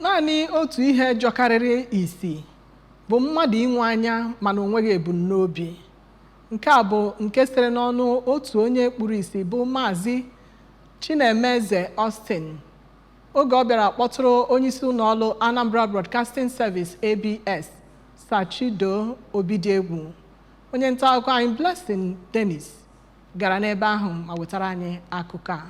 Naanị otu ihe jọkarịrị isi bụ mmadụ inwe anya mana o nweghị ebumnobi. Nke a bụ nke sitere n'ọnụ otu onye kpuru isi bụ Maazị Chinemeze Austin oge ọ bịara kpọtụrụ onyeisi ụlọọrụ Anambra Broadcasting Service ABS Sir Chido Obidiegwu. Onye nta akụkọ anyị Blessing Dennis gara n'ebe ahụ ma wetara anyị akụkọ a.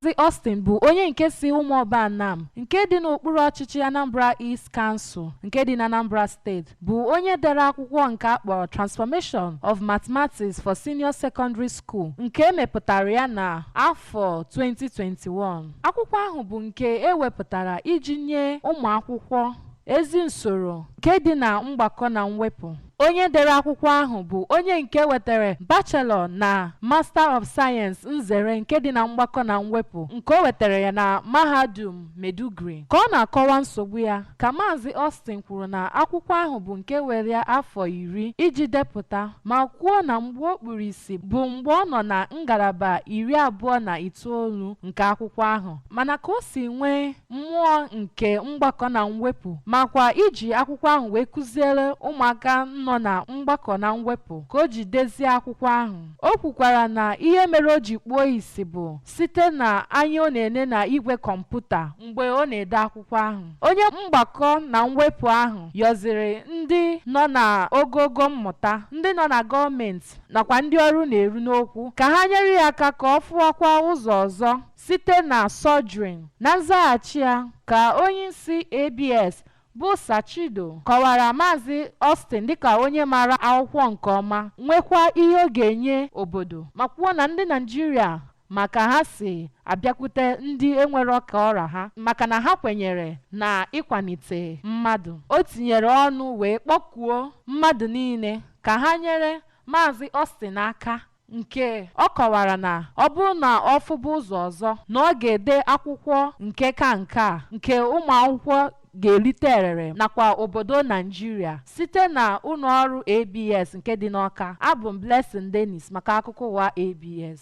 Maazị Austin bụ onye nke si Ụmụọba Anam nke dị n'okpuru ọchịchị Anambra East Council nke dị na Anambra Steeti bụ onye dere akwụkwọ nke a kpọrọ Transformation of Mathematics for Senior Secondary School nke e mepụtara ya na afọ 2021. Akwụkwọ ahụ bụ nke e wepụtara iji nye ụmụ akwụkwọ ezi nsoro nke dị na mgbakọ na mwepụ. Onye dere akwụkwọ ahụ bụ onye nke wetara Bachelor na Master of Science nzere nke dị na mgbakọ na mwepụ nke o wetara ya na Mahadum Maiduguri. Ka ọ na-akọwa nsogbu ya, ka Maazị Austin kwuru na akwụkwọ ahụ bụ nke were ya afọ iri iji depụta ma kwuo na mgbe o kpuru isi bụ mgbe ọ nọ na ngalaba iri abụọ na itoolu nke akwụkwọ ahụ mana ka o si nwee mmụọ nke mgbakọ na mwepụ makwa iji akwụkwọ ahụ wee kụziere ụmụaka nọ na mgbakọ na mwepụ ka o ji dezie akwụkwọ ahụ o kwukwara na ihe mere o ji kpuo isi bụ site na anya ọ na-ene na igwe kọmputa mgbe ọ na-ede akwụkwọ ahụ onye mgbakọ na mwepụ ahụ yọziri ndị nọ na ogogo mmụta ndị nọ na gọọmenti nakwa ndị ọnụ na-eru n'okwu ka ha nyere ya aka ka ọ fụwakwa ụzọ ọzọ site na surgery. Na nzaghachi ya, ka onyeisi ABS bụ Sir Chido kọwara Maazị Austin dịka onye maara akwụkwọ nke ọma, nwekwa ihe ọ ga-enye obodo, ma kwuo na ndị Naịjirịa ma ka ha si abịakwute ndị enwerọ ka ọ ra ha maka na ha kwenyere na ịkwanite mmadụ. O tinyere ọnụ wee kpọkuo mmadụ niile ka ha nyere Maazị Austin aka nke ọ kọwara na ọ bụrụ na ọ fụba ụzọ ọzọ na ọ ga-ede akwụkwọ nke ka nke a nke ụmụakwụkwọ ga-erite erere nakwa obodo Naịjirịa site na ụlọọrụ ABS nke dị n'Awka. Abụ m Blessing Dennis maka akụkọ ụwa ABS.